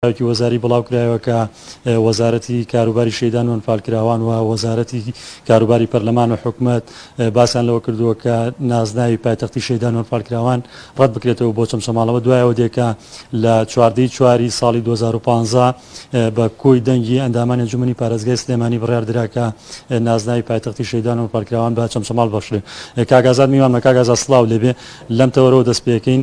لەلایەکی وەزاری بڵاوکرایەوە کە وەزارەتی کاروباری شەیدان و ئەنفالکراوان و وەزارەتی کاروباری پەرلەمان و حکومەت باسیان لەوە کردووە کە نازناوی پایتەختی شەیدان و ئەنفالکراوان ڕەت بکرێتەوە بۆ چەمچەماڵەوە دوایەوە دێکە لە چواردەی چواری ساڵی 2015 بە کۆی دەنگی ئەندامانی ئەنجومەنی پارێزگای سلێمانی بڕیار درا کە نازناوی پایتەختی شەیدان و ئەنفالکراوان بە چەمچەماڵ بەخشرێ کاک ئازاد میوانمە کاک ئازاد سڵاو لێبێ لەم تەوەرەوە دەست پێکەین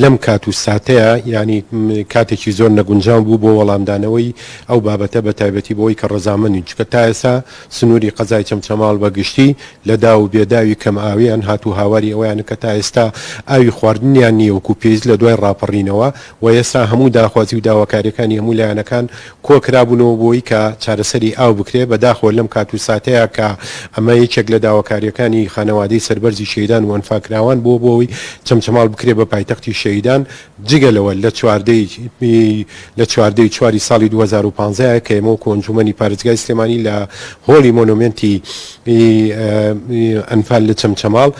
لەم کات و ساتەیا یانی کاتێکی زۆر نەگونجاو بوو بۆ وەڵامدانەوەی ئەو بابەتە بە تایبەتی بۆ ئەوی کە ڕەزامەندین چونکە تا ئێسا سنووری قەزای چەمچەماڵ بە گشتی لە داو و بێداوی کەم ئاوییان هات و هاواری ئەوەیانە کە تا ئێستا ئاوی خواردنیان نییە وەکوو پێویست لە دوای ڕاپەڕینەوە و ئێستا هەموو داخوازی و داواکارییەکانی هەموو لایەنەکان کۆکرابوونەوە بۆی کە چارەسەری ئاو بکرێت، بەداخەوە لەم کات و ساتەیا کە ئەمە یەکێک لە داواکارییەکانی خانەوادەی سەربەرزی شەهیدان و ئەنفالکراوان بووە بۆی چەمچەماڵ بکرێت بە پایتەختی شەهیدان، جگە لەوە لە چواردەی لە چواردەی چوار ی ساڵی دوو هەزار و پازدە ە کە ئێمە وەکو ئەنجوومەنی پارێزگای سلێمانی لە هۆڵی مۆنۆمێنتی ئەنفال لە چەمچەماڵ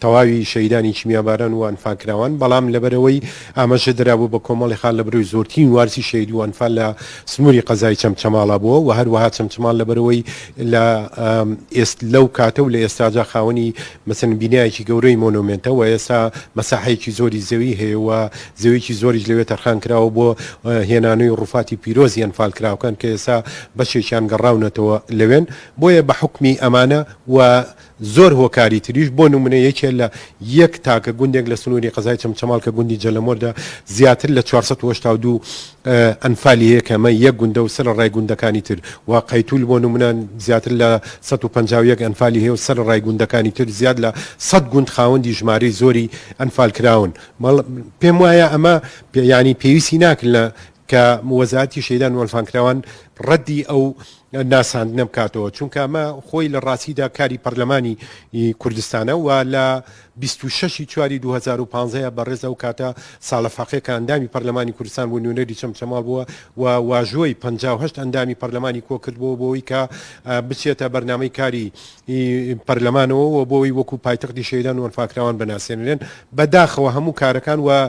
تەواوی شەهیدانی کیمیاباران و ئەنفال کراوان، بەڵام لەبەرئەوەی ئاماژە درابوو بە کۆمەڵی خان لە بەرەوی زۆرترین وارسی شەهید و ئەنفال لە سنووری قەزای چەمچەماڵ بووە و هەروەها چەمچەماڵ لەبەرئەوەی لە ئێست لەو کاتە و لە ئێستاجا خاوەنی مەسەن بینایەکی گەورەی مۆنۆمێنتە و ئێستا مەساحەیەکی زۆری زەوی هەیە و زەویەکی زۆریش لەوێ تەرخان کراوە بۆ هێنانەوەی ڕووفاتی پیرۆزی ئەنفال کراوکان کە ئێستا بەشێکیان گەڕاونەتەوە لەوێن بۆیە بە حوکمی ئەمانە و زۆر هۆکاری تریش بۆ نمونە یەکێ لە یەک تاکە گوندێک لە سنوری قەزای چەمچەماڵ کە گوندی جەلەمۆردا زیاتر لە چوار سەد و هەشتا و دوو ئەنفالی هەیە کە ئەمە یەک گوندە و سەر ڕای گوندەکانی تر و قەیتول بۆ نمونە زیاتر لە سەد و پەنجا و یەک ئەنفالی هەیە و سەر ڕای گوندەکانی تر زیاد لە سەد گوند خاوەندی ژمارەی زۆری ئەنفال کراون بەڵ پێم وایە ئەمە یانی پێویستی ناکرد لە کە مووەزەعەتی شەیدان وەلفانکراوان ڕەدی ئەو ناساندنە بکاتەوە چونکە ئەمە خۆی لە ڕاستیدا کاری پەرلەمانی کوردستانە و لە 26 چواری 2015 بەڕێز ئەو کاتە ساڵە فەقێ کە ئەندامی پەرلەمانی کوردستان بوو نوێنەری چەمچەماڵ بووە و واژۆی 58 ئەندامی پەرلەمانی کۆکردبووە بۆی کە بچێتە بەرنامەی کاری پەرلەمانەوە و بۆی وەکو پایتەختی شەیدان وەلفاکراوان بناسێنرێن بەداخەوە هەموو کارەکان و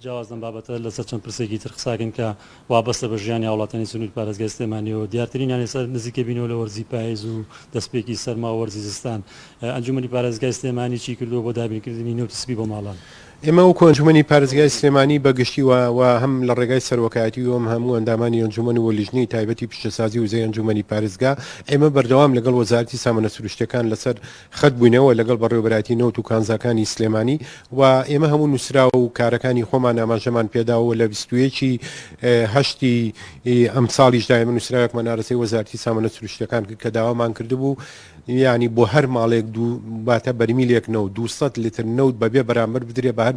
جیاواز لەم بابەتە لەسەر چەند پرسێکی تر قساکەین کە وابەستە بە ژیانی هاوڵاتیانی سنوری پارێزگای سلێمانیەوە دیارترینیان ئێستا نزیکە بینەوە لە وەرزی پایز و دەستپێکی سەرما و وەرزی زستان ئەنجومەنی پارێزگای سلێمانی چی کردووە بۆ دابینکردنی نەوتی سپی بۆ ماڵان؟ ئێمە وەکو ئەنجومەنی پارێزگای سلێمانی بە گشتی و و هەم لە ڕێگای سەرۆکایەتی و هەم هەموو ئەندامانی ئەنجومەن و لیژنەی تایبەتی پیشەسازی وزەی ئەنجومەنی پارێزگا ئێمە بەردەوام لەگەڵ وەزارەتی سامانە سروشتیەکان لەسەر خەت بووینەوە لەگەڵ بەڕێوەبەرایەتی نەوت و کانزاکانی سلێمانی و ئێمە هەموو نووسراو و کارەکانی خۆمان ئاماژەمان پێداوە و لە بیست و یەک ی هەشتی ئەمساڵیشدا ئێمە نووسراوێکمان ئارەزەی وەزارەتی سامانە سروشتیەکان کرد کە داوامان کردبوو یانی بۆ هەر ماڵێک دوو واتە بەرمیلێک نەوت دوو سەد لتر نەوت بە بێ بەرامبەر بدرێ بە هەر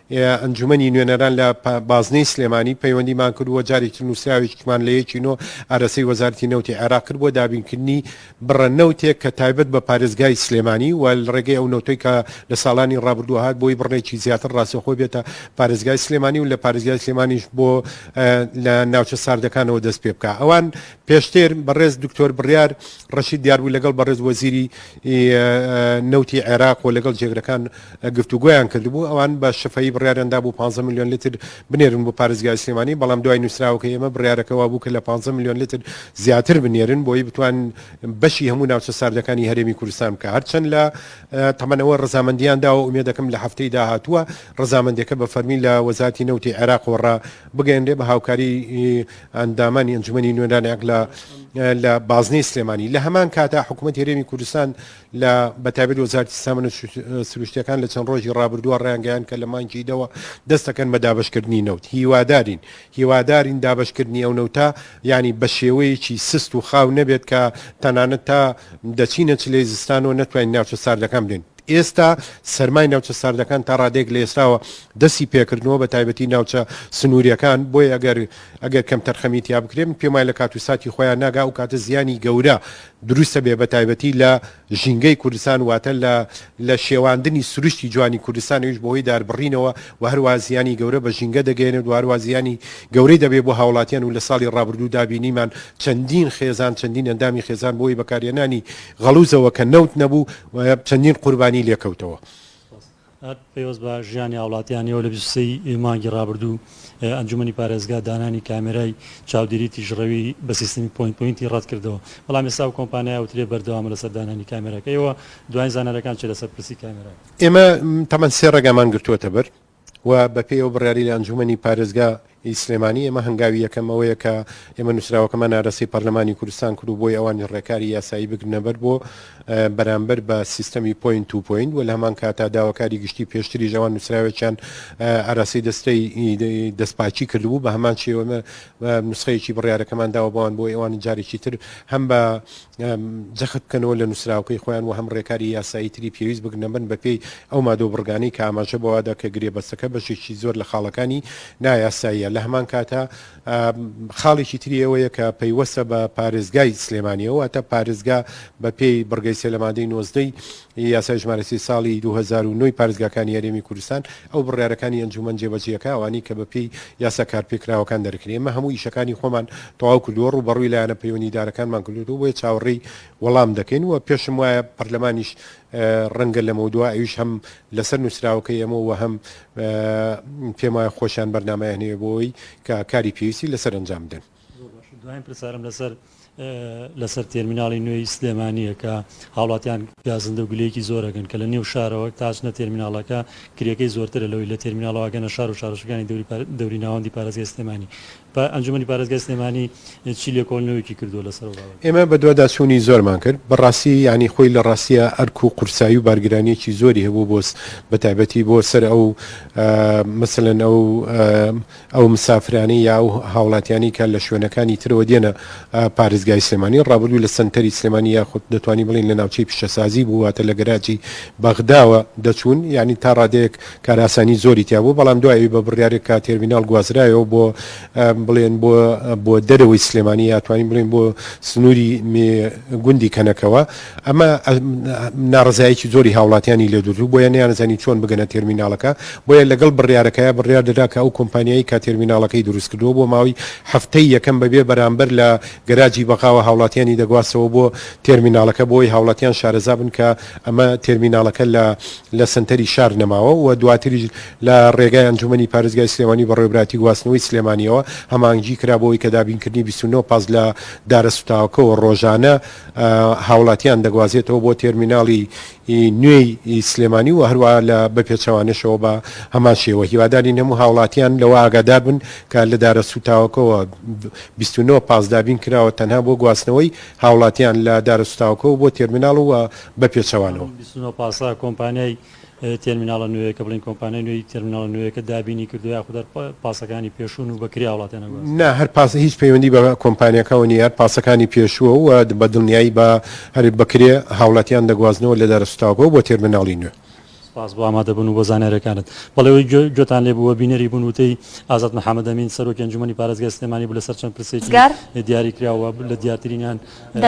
ئەنجومەنی نوێنەران لە بازنەی سلێمانی پەیوەندیمان کرد و جارێکی تر نووسراوێکیمان لە یەکی نۆ ئەرەسەی وەزارەتی نەوتی عێراق کرد بۆ دابینکردنی بڕە نەوتێک کە تایبەت بە پارێزگای سلێمانی و لە ڕێگەی ئەو نەوتەی کە لە ساڵانی ڕابردوو هات بۆی بڕێکی زیاتر ڕاستەوخۆ بێتە پارێزگای سلێمانی و لە پارێزگای سلێمانیش بۆ لە ناوچە ساردەکانەوە دەست پێ بکا ئەوان پێشتر بەڕێز دکتۆر بڕیار ڕەشید دیاربوو لەگەڵ بەڕێز وەزیری ی نەوتی عێراق و لەگەڵ جێگرەکان گفتوگۆیان کردبوو، ئەوان بە شفەیی بڕیاریان دابوو پازدە ملیۆن لتر بنێرن بۆ پارێزگای سلێمانی، بەڵام دوای نووسراوەکەی ئێمە بڕیارەکە وابوو کە لە پازدە ملیۆن لتر زیاتر بنێرن بۆی بتوانن بەشی هەموو ناوچە ساردەکانی هەرێمی کوردستان بکە هەرچەند لە تەمەنەوە رەزامەندیان داوە ئومێدەکەم لە هەفتەی داهاتووە رەزامەندیەکە بە فەرمی لە وەزارەتی نەوتی عێراقەوە رابگەیەنرێ بە هاوکاری ئەندامانی ئەنجومەنی نوێنەرانی ئەقلا لە بازنەی سلێمانی لە هەمان کاتا حکوومەت هەرێمی کوردستان لە بەتابێت وەزارتی سامنە سروشتەکان لە چەند ڕۆژی ڕابردووە ڕیانگەیان کە لە مانگی دەوە دەستەکەن بە دابشکردنی نەوت هیوادارین هیوادارین دابشکردنی ئەو نەوتە ینی بە شێوەیەکی سست و خاو نەبێت کە تەنانەت تا دەچینە چلەی زستانەوە نەتوانین ناوچە ساردەکان بێن ئێستا سەرمای ناوچە ساردەکان تا ڕادەیەک لە ئێستاوە دەستی پێکردنەوە بە تایبەتی ناوچە سنووریەکان بۆیە ئەگەر ئەگەر کەم تەرخەمی تیا بکرێ من پێم وایە لە کات و ساتی خۆیان ناگا ئەو کاتە زیانی گەورە دروست ئەبێ بە تایبەتی لە ژینگەی کوردستان واتە لە لە شێواندنی سروشتی جوانی کوردستان ئەویش بەهۆی داربڕینەوە و هەروەها زیانی گەورە بە ژینگە دەگەیەنێت و هەروەها زیانی گەورەی دەبێ بۆ هاوڵاتیان و لە ساڵی ڕابردوودا بینیمان چەندین خێزان چەندین ئەندامی خێزان بۆی بەکارهێنانی غەڵووزەوە کە نەوت نەبوو و چەندین قوربانی لێکەوتەوە. پەیوەست بە ژیانی هاوڵاتیانیەوە لە بیست و سێ ی مانگی ڕابردوو ئەنجومەنی پارێزگا دانانی کامێرای چاودێری تیژڕەوی بە سیستمی پۆینت پۆینتی ڕەتکردەوە بەڵام ئێستا ئەو کۆمپانیا ئەوترێ بەردەوامە لەسەر دانانی کامێراکەیەوە دوایین زانیارەکان چیە لەسەر پرسی کامێراکە؟ ئێمە تەمەن سێ ڕێگامان گرتووەتەبەر و بەپێی ئەو بڕیارەی لە ئەنجوومەنی پارێزگا ی سلێمانی ئێمە هەنگاوی یەکەم ئەوەیە کە ئێمە نووسراوەکەمان ئارەستەی پارلەمانی کوردستان کرد و بۆی ئەوانی ڕێکاری یاسایی بگرنە بەر بۆ بەرامبەر بە سیستەمی پۆینت توو پۆینت و لە هەمان کاتا داواکاری گشتی پێشتریش ئەوان نووسراوێکیان ئاراستەی دەستەی دەستپاکی کردبوو بە هەمان شێوەمە نسخەیەکی بڕیارەکەمان داوە بەوان بۆ ئێوان جارێکی تر هەم بە جەخت بکەنەوە لە نووسراوەکەی خۆیان و هەم ڕێکاری یاسایی تری پێویست بگرنە بەر بەپێی ئەو مادە و بڕگانەی کە ئاماژە بەوەدا کە گرێبەستەکە بەشێکی زۆر لە خاڵەکانی نایاساییە لە هەمان کاتە خاڵێکی تری ئەوەیە کە پەیوەستە بە پارێزگای سلێمانیەوە واتە پارێزگا بەپێی بڕگەی سێ لە مادەی نۆزدەی یاسای ژمارە سی ساڵی دوو هەزار و نۆ ی پارێزگاکانی هەرێمی کوردستان ئەو بڕیارەکانی ئەنجومەن جێبەجێکە ئەوانەی کە بە پێی یاسا کارپێکراوەکان دەرکرێ ئێمە هەموو ئیشەکانی خۆمان تەواو کردووە ڕووبەڕووی لایەنە پەیوەنیدارەکانمان کردۆتەوە بۆیە چاوەڕێی وەڵام دەکەین و پێشم وایە پەرلەمانیش ڕەنگە لەمەودوا ئەویش هەم لەسەر نووسراوەکەی ئێمە و هەم پێم وایە خۆشیان بەرنامەیان هەیە بۆ ئەوەی کە کاری پێویستی لەسەر ئەنجام بدەن. زۆر باشە دوایین پرسارم لەسەر لەسەر تێرمیناڵی نوێی سلێمانییە کە هاوڵاتیان گازندە و گلەیەکی زۆر ئەکەن کە لە نێو شارەوە تا ئەچنە تێرمیناڵەکە کرێکەی زۆرترە لەوەی لە تێرمیناڵەوە ئەگەنە شار و شارۆچکەکانی دەوری ناوەندی پارێزگای سلێمانی. ئەنجوومەنی پارێزگای سلێمانی چی لێکۆڵینەوەیەکی کردووە لەسەر ئەو بابەتە؟ ئێمە بەدواداچوونی زۆرمان کرد، بەڕاستی یانی خۆی لە ڕاستییە ئەرک و قورسایی و بارگرانییەکی زۆری هەبوو بۆ بەتایبەتی بۆ سەر ئەو مەسەلەن ئەو ئەو مسافرانەی یا ئەو هاوڵاتیانەی کە لە شوێنەکانی ترەوە دێنە پارێزگای سلێمانی ڕابردوو لە سەنتەری سلێمانی یاخود دەتوانین بڵێین لە ناوچەی پیشەسازی بوو واتە لە گەراجی بەغداوە دەچوون یانی تا ڕادەیەک کارئاسانی زۆری تیا بوو بەڵام دوای ئەوی بە بڕیارێک کە تێرمیناڵ گوازرایەوە بۆ بڵێن بۆ بۆ دەرەوەی سلێمانی یا توانین بڵێن بۆ سنووری گوندی کەنەکەوە ئەمە ناڕەزایەکی زۆری هاوڵاتیانی لێدوردو، بۆیە نەیانزانی چۆن بگەنە تێرمیناڵەکە، بۆیە لەگەڵ بڕیارەکەیا بڕیار دەدا کە ئەو کۆمپانیایەی کە تێرمیناڵەکەی دروستکردوە بۆ ماوەی هەفتەی یەکەم بەبێ بەرامبەر لە گەراجی بەغاوە هاوڵاتیانی دەگواستەوە بۆ تێرمیناڵەکە بۆوەی هاوڵاتیان شارەزابن کە ئەمە تێرمیناڵەکە لە لە سەنتەری شار نەماوە و دواتریش لە ڕێگای ئەنجومەنی پارێزگای سلێمانی بەڕێوبراتی گواستنەوەی سلێمانیەوە هەماهەنگی کرا بۆوەی کە دابینکردنی بیست و نۆ پاس لە دارە سوتاوەکەوە ڕۆژانە هاوڵاتیان دەگوازێتەوە بۆ تێرمیناڵی نوێی سلێمانی و هەروە لە بەپێچەوانەشەوە بە هەمان شێوە هیواداری نەموو هاوڵاتیان لەوە ئاگادار بن کە لە دارە سوتاوەکەەوە 29 پاس دابین کراوە تەنها بۆ گواستنەوەی هاوڵاتیان لە دارە سوتاوەکەەوە بۆ تێرمیناڵ و بەپێچەوانەوە. تێرمیناڵە نوێیەکە بڵێن کۆمپانیای نوێی تێرمیناڵە نوێیەکە دابینی کردووە یاخود هەر پاسەکانی پێشوون و بە کرێ هاوڵاتیان ئەگوازن؟ نا، هەر پاس هیچ پەیوەندی بە کۆمپانیاکەوە نییە، هەر پاسەکانی پێشووە و بە دڵنیایی بە هەر بە کرێ هاوڵاتیان دەگوازنەوە لە دارە سووتاوەکەوە بۆ تێرمیناڵی نوێ. سپاس بۆ ئامادەبوون و بۆ زانیارییەکانت. بەڵی ئەوەی گوێتان لێ بوو و بینەری بوون وتەی ئازاد محەمەدئەمین سەرۆکی ئەنجوومەنی پارێزگای سلێمانی بوو لەسەر چەند پرسێکی دیاریکراو و لە دیارترینیان،